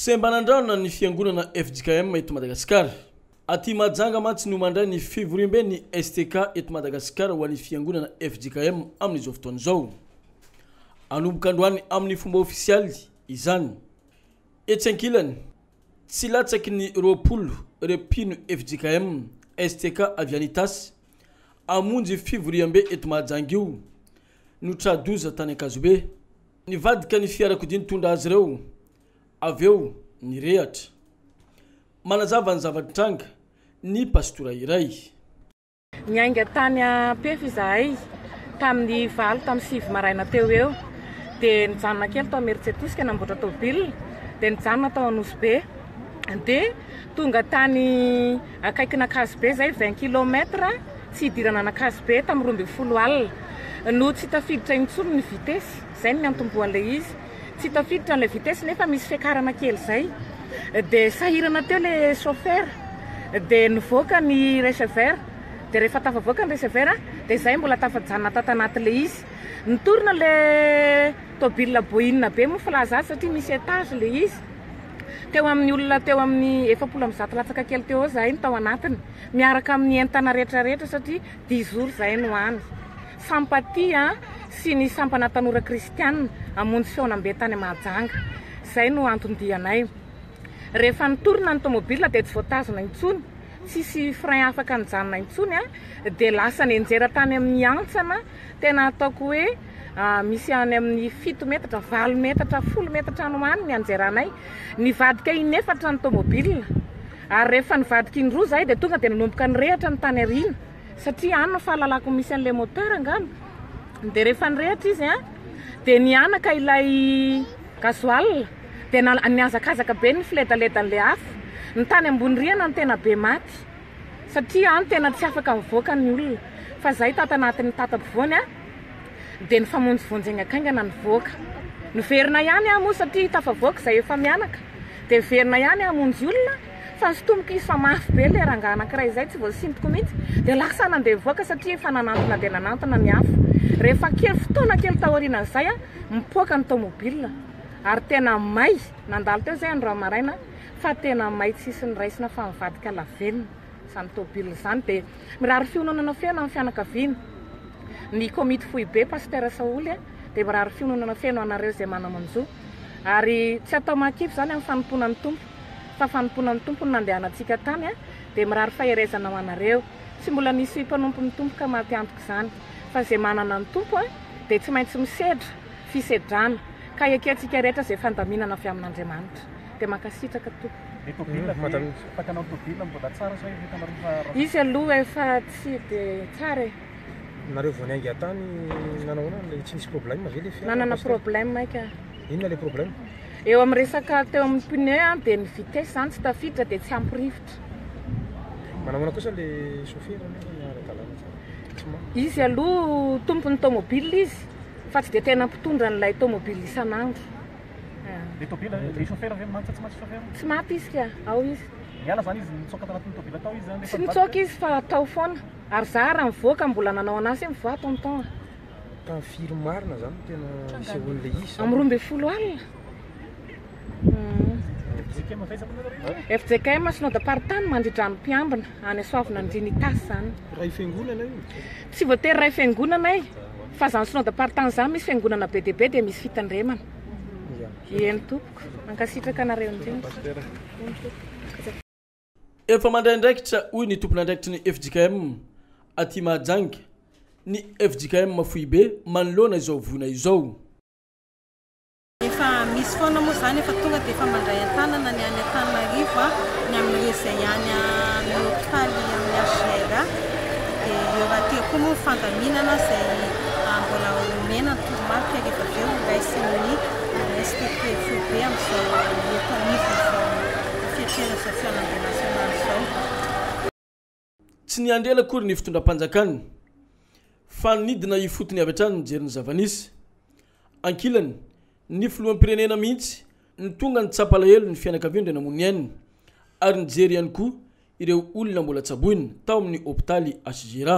Semban'Andrana ny fiangonana fjkm eto Madagasikara. Aty Mahajanga mantsy no mandray ny fivoriamben'ny STK eto Madagasikara ho an'ny fiangonana fjkm amin'izao fotoana izao. Hanomboka androany amin'ny fomba ofisialy izany. Etsy ankilany, tsy latsaky ny roapolo ireo mpino fjkm, STK avy any Itasy, hamonjy fivoriambe eto Mahajanga io, no tra-doza tany Ankazobe. Nivadika ny fiarakodia nitondra azy ireo, avy eo nirehatra. Manazava ny zava-nitranga ny pastora iray. Niainga tany Ampefy izahay tamin'ny valo tamin'ny sivy maraina teo ho eo, dia nijanona kely tao Imerintsiatosika namboatra tôbily, dia nijanona tao Anosibe, dia tonga tany. Akaikin'Ankazobe izay, vingt kilomètre, tsy hidirana an'Ankazobe tamin'ny roa ambin'ny folo alina no tsy tafiditra intsony ny vitesy, izay no niantombohan'ilay izy. Tsy tafiditra an'ilay vitesy nefa misy fiakarana kely izay dia sahirana teo ilay chauffeur dia nivoaka ny receveur dia rehefa tafavoaka ny receveur dia izay mbola tafajanona tato anaty ilay izy. Nitorina ilay Tôbila boina be moa filaza azy satria misy étage ilay izy. Teo amin'ny olona teo amin'ny efapolo amby zato latsaka kely teo eo zahay no tao anatiny, miaraka amin'ny entana rehetra rehetra satria dix jours zahay no any. Sampatia sy ny sampana tanora kristianina hamonjy fihaonambe tany Mahajanga. Izay no anton-dianay. Rehefa nitorina ny tômôbila dia tsy voatazona intsony, tsisy frein afaka nijanona intsony dia lasa nianjera tany amin'ny hantsana. Tena ataoko hoe misy any amin'ny fito metatra, valo metatra, folo metatra any ho any ny anjeranay. Nivadika inefatra ny tomobilina ary rehefa nivadika indroa izahay dia tonga dia nanomboka nirehitra ny tany aoriana satria any no fahalalako ny misy an'ilay moteur angamba. Dia rehefa nirehitra izy a, dia nihanaka ilay gasoil, dia nihazakazaka be ny filedaledany ilay afo. Ny tany ambony rihana no tena be maty. Satria an tena tsy afaka mivoaka ny olona fa zahay tato anatin'ny tata ampovoany an dia nifamonjy vonjy haingankaingana nivoaka. Niverina ihany aho moa satria tafavoaka zahay efa mianaka dia niverina ihany hamonjy olona fa sintomiko izy fa mafy be ilay rangahy anankiray izay tsy voasintoko mihitsy dia lasa nandeha nivoaka satria efa nanantona dia nanantona ny hafa. Rehefa kely fotoana kely taorianan'izay an mipoaka ny tomobile ary tena may nandalo teo izay andro maraina fa tena may tsisy niraisina fa nivadika lavenona izany tôbily izany dia mirary fiononana feno amin'ny fianakaviana ny komity foibe Pasitera Saholy a dia mirary fiononana feno anareo izay manamanjo ary tsy atao mahakivy izany amin'ny fanompoana ny Tompo fa fanompoana ny Tompo no nandehanantsika tany a dia mirary faherezana ho anareo tsy mbola nisy mpanompo ny Tompo ka maty antoka izany fa izay manana ny Tompo a dia tsy maintsy misedra fisedrana ka ekentsika rehetra izay fandaminana avy amin'Andriamanitra dia mankasitraka tompoko. Ilay tôbila ve afaka anao tôbila mbola tsara sa efa hitanareo fa ratsy. Izy aloha efa tsy de tsara e. Nareo vao niainga tany nanao ahoana le tsy nisy problème ve le fiara? Nanana problème aika. Inona le problème? Eo amin'ny resaka teo amin'ny pneu an dia ny vitesse zany tsy tafiditra dia tsy ampy rivotra. Manahoana kosa le chauffeur aloha ara-dalàna tsara? Tsy ma. Izy aloha tompon'ny tômôbila izy fa tsy dia tena mpitondra an'ilay tômôbila isan'andro. Le tôbila, le chauffeur ve mantsy tsy mantsy chauffeur? Tsy maty izy ka, ao izy. Niala zany izy, nitsoaka tanatin'ny tôbila tao izy? Tsy nitsoaka izy fa tao foana, ary za raha mivoaka mbola nanao an'asa io mivoaha tonton a. Tamin'ny firy marina zany no tena nisehoan'le izy zany? Amin'ny roa ambin'ny folo alina. FJKM avy aiza moa nareo e? FJKM Synode Aparitany Mandri-drano Mpiambina, any Soavinandriana Itasy zany. Ray fiangonana io? Tsy voatery ray fiangonana e! Fa zany synode apartany zany misy fiangonana be dia be dia misy fitandremana. Eny tompoko. Mankasitraka anareo indrindra. Eny tompoko. Efa mandray andraikitra hoy ny tompon'andraikitry ny fjkm aty Mahajanga ny fjkm foibe manoloana izao voina izao. Efa misy foana moa izany, efa tonga dia efa mandray an-tanana ny any Antananarivo ny amin'ireo izay any amin'ny hopitaly amin'ny HJRA. Dia eo rahateo koa moa ny fandaminana izay mbola homena ny toromarika rehefa avy eo horaisin'ny ANSTP foibe amin'izao eto anivon'izao fiatrehana izao fihaonambe nasionaly izao. Tsy niandry ela akory ny fitondram-panjakana fa nidina ifotony avy hatrany nijery ny zava-nisy. Ankilany, ny filoham-pirenena mihitsy no tonga nitsapa alahelo ny fianakaviany dia namono ny ainy ary nijery ihany koa ireo olona mbola tsaboina tao amin'ny hopitaly HJRA.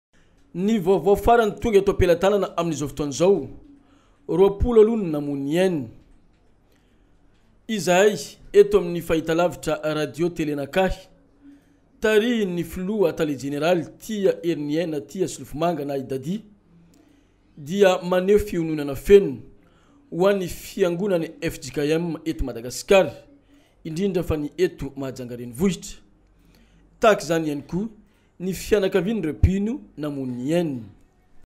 Ny vaovao farany tonga eto am-pelatanana amin'izao fotoana izao, roapolo aloha ny namoy ny ainy. Izahay eto amin'ny fahitalavitra Radio Tele Nakahy, tarihin'ny filoha tale jeneraly Tia Heriniaina Tia Solofomanga na i Dadi, dia maneho fiononana feno ho an'ny fiangonan'ny fjkm eto Madagasikara, indrindra fa ny eto Mahajanga renivohitra. Tahaka izany ihany koa ny fianakavian'ireo mpino namono ny ainy.